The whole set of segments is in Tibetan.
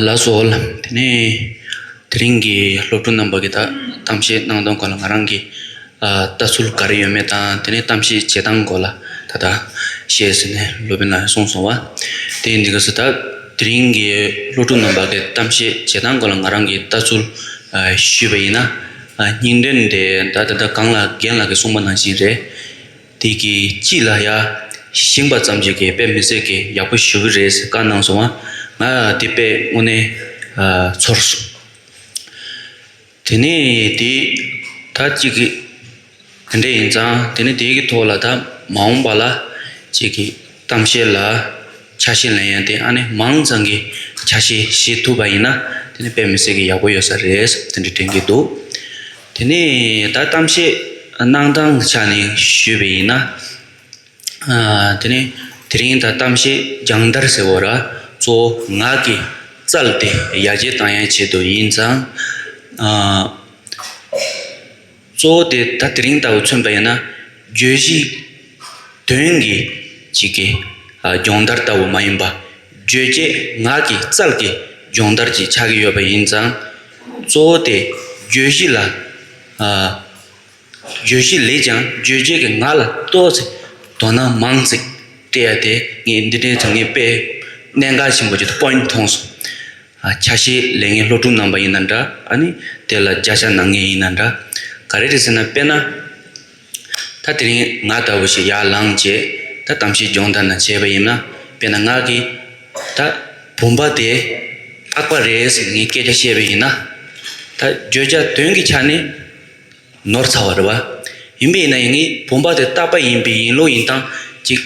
ལ་སོགས་ལ། དེ་ནས་དེ་རིང་གི་སློབ་ཕྲུག་རྣམ་པ་དགེ་དག་གཏམ་བཤད་གནང་དོན་སྐོར་ལ་ང་རང་གི་ལྟ་ཚུལ་ག་རེ་ཡོད་མེད་དང་དེ་ནས་གཏམ་བཤད་བྱེད་སྟངས་སྐོར་ལ་ད་ལྟ་བཤད་ཟེར་ནས་སློབ་དཔོན་ལགས་གསུངས་སོང་བ། དེ་འདི་ག་སི་ད་དེ་རིང་གི་སློབ་ཕྲུག་རྣམ་པ་དགེ་གཏམ་བཤད་བྱེད་སྟངས་སྐོར་ལ་ང་རང་གི་ལྟ་ཚུལ་ཞུས་པ་ཡིན་ན། སྙིང་དོན་དེ་ད་ད་ལྟ་གངས་ལགས་རྒན་ལགས་ཀྱི་གསུངས་པ་ནང་བཞིན་རེད། དེ་གི་སྐྱིད་ལ་ཡ། བཞེངས་པ་ཙམ་གྱིས་ཀྱི་པད་མི་ཟེར་གི་ཡག་པོ་ཞུ་གི་རེད་ཟེར་བཀའ་གནང་སོང་བ། ང་དེ་དཔེ་དངོས་ནས་ཚོར་སོང། དེ་ནས་དེ་ད་གཅིག་གི་དེ་འདྲས་ཡིན་ཙང་དེ་ནས་དེ་གི་ཐོག་ལ་ད་མ་འོངས་པ་ལ་གཅིག་གི་གཏམ་བཤད་ལ། ཆ་ཤས་ལེན་ཡོན་ཏན་ཨ་ནི་མང་ཙང་གི་ཆ་ཤས་ཤེས་ཐུབ་པ་ཡིན་ན་དེ་ནི་དཔེ་མི་སྲིད་གི་ཡག་པོ་ཡོད་ས་རེད་དེ་འདྲ་དྲན་གི་འདུག་དེ་ནས་ད་གཏམ་བཤད་གནང་སྟངས་ཆ་ནས་ཞུས་པའི་ཡིན་ན། དེ་ནས་དེ་རིང་ད་གཏམ་བཤད་རྒྱང་ལྟར་ཟེར་བོ་ར་གཙོ་བོ་ངག་གི་རྩལ་དེ་ཡར་རྒྱས་གཏང་ཡའི་ཆེད་དུ་ཡིན་ཙང། གཙོ་བོ་དེ་ད་དེ་རིང་ལྟ་བུ་མཚོན་པ་ཡིན་ན། བརྗོད་གཞི། དོན་གྱི། གཅིག་གི། སྦྱོང་བརྡར་ལྟ་བུ་མ་ཡིན་པ། བརྗོད་བྱའི་ངག་གི་རྩལ་གྱི་སྦྱོང་བརྡར་གྱི་ཆགས་ཀྱི་ཡོད་པ་ཡིན་ཙང། གཙོ་བོ་དེ། བརྗོད་གཞི་ལ། བརྗོད་གཞི་ལས་ཀྱང་བརྗོད་བྱེད་ཀྱི་ངག་ལ་ལྟོས་ཚེ། དོ་སྣང་མང་ཙིག་སྤྲད་ཡ་དེ་ངས་འདི་དྲན་ཚེ་ངས་དཔེ། གནད་འགག་ཆེན་པོ་གཅིག་ཏུ point མཐོང་སོང། ཆ་ཤས་ལེན་ངེས་ལྷོ་ཕྲུག་རྣམས་པ་ཡིན་ན་འདྲ་ཨ་ནི་དེ་ལ་བརྒྱ་ཆ་ནང་ངེས་ཡིན་ན་འདྲ་ག་རེ་རེད་ཟེར་ན་དཔེར་ན། ད་དེ་རིང་ང་ལྟ་བུ་ཞིག་ཡར་ལངས་རྗེས་ད་གཏམ་ཤིག་སྦྱོང་ལྟར་ན་བྱས་པ་ཡིན་ན་དཔེར་ན་ངག་གིས་ད་བུམ་པ་དེ་ལྷག་པ་རེད་ཟེར་ངས་སྐད་ཆ་བཤད་པ་ཡིན་ན། ད་བརྗོད་བྱ་དོན་གྱི་ཆ་ནས་ནོར་ཚ་བ་རེད་བ། ཡིན་པས་ན་ཡིན་ངེས་བུམ་པ་དེ་རྟག་པ་ཡིན་པའི་ཡིན་ལུགས་ཡིན་སྟངས་ཅིག་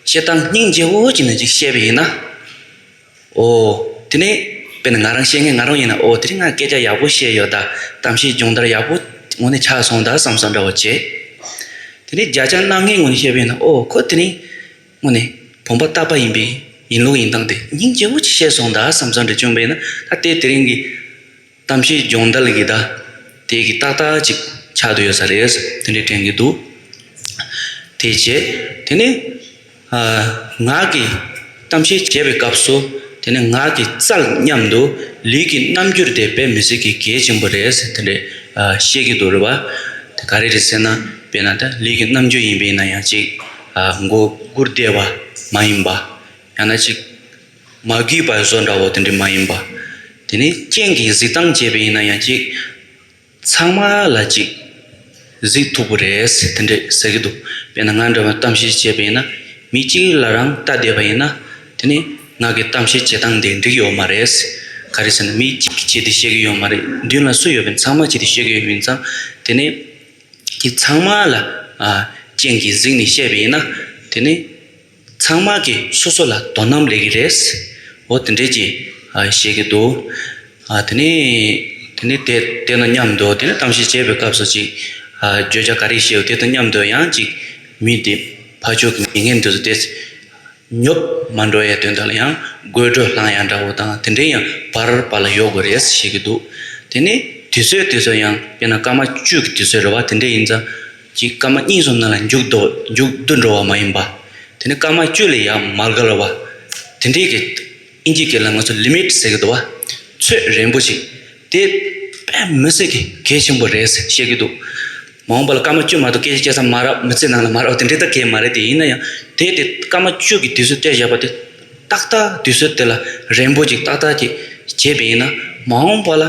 བཤད་སྟངས་སྙིང་རྗེ་བོ་ཅིག་ནས་ཅིག་བཤད་པ་ཡིན་ན། ཨོ། དེ་ནས། དཔེར་ན་ང་རང་བཤད་ངེས་ང་རང་ཡིན་ན་ཨོ་དེ་རིང་ང་སྐད་ཆ་ཡག་པོ་བཤད་ཡོད་ད། གཏམ་བཤད་སྦྱོང་བརྡར་ཡག་པོ། ངོ་ནས་ཆགས་སོང་ད་བསམ་བསམ་འདྲ་བོ་བྱེད། དེ་ནས་བརྒྱ་ཆ་སྣང་ངེས་ངོ་ནས་བཤད་པ་ཡིན་ན་ཨོ་ཁོ་དེ་རིང། ངོ་ནས། བུམ་པ་བཏགས་པ་ཡིན་པས། ཡིན་ལུགས་ཡིན་སྟངས་དེ་སྙིང་རྗེ་བོ་ཆེ་བཤད་སོང་ད་བསམ་བསམ་འདྲ་བྱུང་བས་ན་ད་ལྟའི་དེ་རིང་གི། གཏམ་བཤད་སྦྱོང་བརྡར་གྱི་བརྡ་དེ་གི་ཏག་ཏག་ཅིག་ཆགས་འདུག་ཡོད་ས་རེད་ཟེར་དེ་འདྲའི་དྲན་གྱི་འདུག་དེ་རྗེས་དེ་ནི། ངག་གི་གཏམ་བཤད་བྱེད་པའི་སྐབས་སུ་དེ་ནི་ངག་གི་རྩལ་མཉམ་དུ་ལུས་ཀྱི་རྣམ་འགྱུར་དེ་དཔེ་མི་སྲིད་ཀྱི་གལ་ཆེན་པོ་རེད་ཟེར་དེ་འདྲས་བཤད་ཀྱི་འདུག་རེད་བ། དེ་ག་རེ་རེད་ཟེར་ན་དཔེར་ན་ད་ལུས་ཀྱི་རྣམ་འགྱུར་ཡིན་པས་ན་ཡང་ཅིག་མགོ་བསྒུར་བདེ་བ་མ་ཡིན་པ། ཡང་ན་ཅིག། མ་རྒུད་པ་བཟོ་འདྲ་བོ་དེ་འདྲ་མ་ཡིན་པ། དེ་ནི་རྐྱེན་གྱིས་གཟིགས་སྟངས་བྱས་པས་ཡིན་ན་ཡང་ཅིག། ཚང་མ་ལ་ཅིག། གཟིགས་ཐུབ་པོ་རེད་དེ་འདྲས་ཟེར་གྱི་འདུག་དཔེར་ན་ང་འདྲ་བོས་གཏམ་བཤད་བྱས་པས་ཡིན་ན། མི་གཅིག་ལ་རང་ལྟ་བསྡད་པ་ཡིན་ན། དེ་ནི་ང་གི་གཏམ་བཤད་བྱེད་སྟངས་འདི་འགྲིག་ཡོད་མ་རེད། ག་རེ་ཟེར་ན་མི་གཅིག་གིས་བྱས་ཏེ་བཤད་གི་ཡོད་མ་རེད་མདུན་ལ་སུ་ཡོད་པའི་ཚང་མ་བྱས་ཏེ་བཤད་གི་ཡོད་མིན་ཙང། དེ་ནི། དེ་ཚང་མ་ལ། རྐྱེན་གྱིས་གཟིགས་ནས་བཤད་པས་ཡིན་ན། དེ་ནི། ཚང་མ་གི་སོ་སོ་ལ་དོ་སྣང་ལས་གི་རེད། འོ་དེ་འདྲས་ཀྱི་བཤད་གི་འདུག་དེ་ནས་དེ་ནས་དེ་དེ་དང་མཉམ་དུ་དེ་ནས་གཏམ་བཤད་བྱས་པའི་སྐབས་སུ་ཅིག་བརྗོད་བྱ་ག་རེ་བཤད་དེ་དང་མཉམ་དུ་ཡང་ཅིག་མི་དེ་ཕ་ཆོས་ཀྱི་མི་ངན་དེ་ཚོ་དེ་ཉོབ་མ་འགྲོ་ཡའི་དོན་དག་ལ་ཡང་དགོད་བྲོ་བསླང་ཡ་འདྲ་བོ་དང་དེ་འདྲས་ཡང་བར་བར་ལ་ཡོད་དགོས་རེད་བཤད་གི་འདུག་དེ་ནས་དུས་ཚོད་དེ་ཚོ་ཡང་དཔེར་ན་སྐར་མ་བཅུ་གི་དུས་ཚོད་རེད་བ་དེ་འདྲས་ཡིན་ཙང་གྱི་སྐར་མ་གཉིས་སུ་ན་ལ་འཇུག་བསྡུ་འགྲོ་བ་མ་ཡིན་པ། དེ་ནི་སྐར་མ་བཅུ་ལས་ཡང་མ་བརྒལ་བ། དེ་འདྲའི་གི་ཨིན་སྐད་ཀྱི་ལ་ང་ཚོ་ལིམིད་ཟེར་གི་འདུག་བ། ཚོད་རན་པོ་ཞིག་དེ་དཔེ་མི་སྲིད་གི་གལ་ཆེན་པོ་རེད་ཟེར་བཤད་གི་འདུག་མ་འོངས་པ་ལ་སྐར་མ་བཅུ་མ་གཏོགས་སྐད་ཆ་སྐྱེལ་ས་མ་རག་མི་ཚེ་ནང་ལ་མ་རག་དེ་འདྲའི་ད་གལ་མ་རེད་དེ་ཡིན་ན་ཡང་དེ་དེ་སྐར་མ་བཅུ་གི་དུས་ཚོད་སྤྲད་བཞག་པ་དེ་ཏག་ཏག་དུས་ཚོད་དེ་ལ་རན་པོ་ཅིག་ཏག་ཏག་ཅིག་བྱས་པས་ཡིན་ན་མ་འོངས་པ་ལ།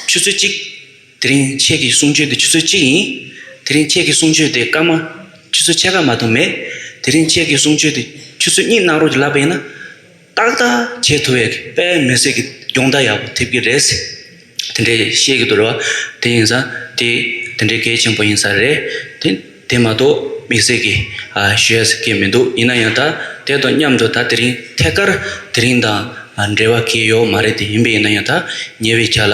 ཆུ་ཚོད་གཅིག། དེ་རིང་ཁྱེད་ཀྱི་གསུང་ཆོས་དེ་ཆུ་ཚོད་གཅིག་ཡིན། དེ་རིང་ཁྱེད་ཀྱི་གསུང་ཆོས་དེ་སྐར་མ། ཆུ་ཚོད་ཕྱེད་ཀ་མ་དུ་མེད། དེ་རིང་ཁྱེད་ཀྱི་གསུང་ཆོས་དེ་ཆུ་ཚོད་གཉིས་གནང་རོགས་ཀྱི་ལབ་པ་ཡིན་ན། ཏག་ཏག་ཁྱེད་ཐུ་བས་པའི་མེ་བསྲེགས་ཀྱི་རྒྱོང་རྟ་ཡག་པོ་ཐེབས་ཀྱི་རེད། དེ་འདྲའི་བཤད་ཀྱི་འདུག་རེད་བ། དེ་ཡིན་ས་དེ། དེ་འདྲའི་གལ་ཆེན་པོ་ཡིན་ས་རེད། དེ། དེ་མ་གཏོགས་དམིགས་བསལ་གྱི་ཞུ་ཡ་སྐད་མི་འདུག་ཡིན་ན་ཡང་ད་དེ་དང་མཉམ་དུ་ད་དེ་རིང་ཐད་ཀར་དེ་རིང་དང་འབྲེལ་བ་སྐད་ཡོག་མ་རེད་དེ་ཡིན་པས་ཡིན་ན་ཡང་ད་ཉེ་བའི་ཆ་ལ་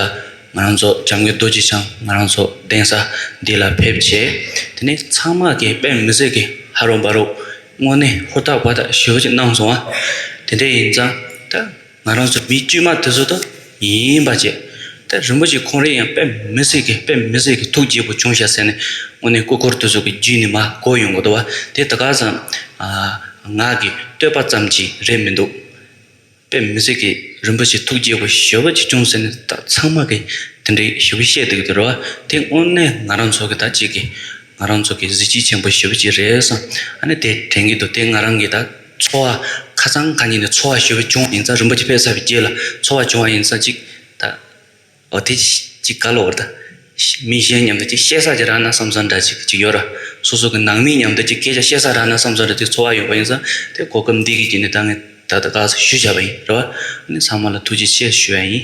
ང་རང་ཚོ་འཇམ་མགོན་རྡོ་རྗེ་འཆང་ང་རང་ཚོ་གདན་ས་འདི་ལ་ཕེབས་ཆེད་དེ་ནས་ཚང་མ་གི་དཔེ་མི་སྲིད་གི་ཧ་རོག་འབའ་རོག་དངོས་གནས་ཧུར་ཐག་པ་ཐག་ཞིག་གཅིག་གནང་སོང་བ་དེ་འདྲས་ཡིན་ཙང་ད། ང་རང་ཚོ་མི་དཀྱུས་མ་དེ་ཚོ་དང་ཡིན་པ་བཅས། དེར་རིན་པོ་ཆེ་ཁོང་རེ་ཡང་དཔེ་མི་སྲིད་གི་དཔེ་མི་སྲིད་གི་ཐུགས་དགྱེས་པོ་བྱུང་ཞེས་ཟེར་ནས་སྔོན་ནས་སྐུ་འཁོར་དེ་ཚོ་གི་རྒྱུད་ནས་མ་གོ་ཡོང་གི་འདུག་བ་དེ་ད་ག་ཙམ་ངག་གི་བསྟོད་པ་ཙམ་གྱིས་རེད་མི་འདུག། དཔེ་མི་སྲིད་གི་རིན་པོ་ཆེ་ཐུགས་དགྱེས་པོ་ཞོལ་པོ་ཅིག་བྱུང་ཟེར་ནས་ད་ཚང་མ་གི་དེ་འདྲའི་ཞོལ་པོ་བཤད་འདུག་གི་འདུག་བ་དེ་དངོས་གནས་ང་རང་ཚོ་གི་ད་ཅིག་གི་ང་རང་ཚོ་གི་གཟི་བརྗིད་ཆེན་པོ་ཞོལ་པོ་ཅིག་རེད་བསམ། ཨ་ནི་དེ་དྲན་གི་འདུག་དེ་ང་རང་གི་ད། ཚོར་བ། ཁ་རྩང་ཁ་ཉིན་ནས་ཚོར་བ་ཞི་བ་བྱུང་བ་ཡིན་ཙང་རིན་པོ་ཆེ་ཕེབས་ཚར་བའི་རྗེས་ལ་ཚོར་བ་བྱུང་བ་ཡིན་ཙང་ཅིག། ད། དེ་ཅིག་ག་ལ་བར་ད། མི་གཞན་ཉམས་དོད་ཅིག་བཤད་ས་ཅིག་རག་ན་བསམ་ས་འདྲ་ཅིག་ཅིག་ཡོད་ར། སོ་སོ་གི་ནང་མིའི་ཉམས་དོད་ཅིག་སྐད་ཆ་བཤད་ས་རག་ན་བསམ་ས་འདྲ་ཅིག་ཚོར་བ་ཡོད་པ་ཡིན་ཙང་དེ་གོ་སྐབས་འདི་གི་རྗེས་ནས་ད་ངས་ད་ལྟ་དགའ་བསུ་ཞུ་བྱ་བ་ཡིན་རེད་བ། ཨ་ནི་ཚང་མ་ལ་ཐུགས་རྗེ་ཆེ་ཞུ་བ་ཡིན།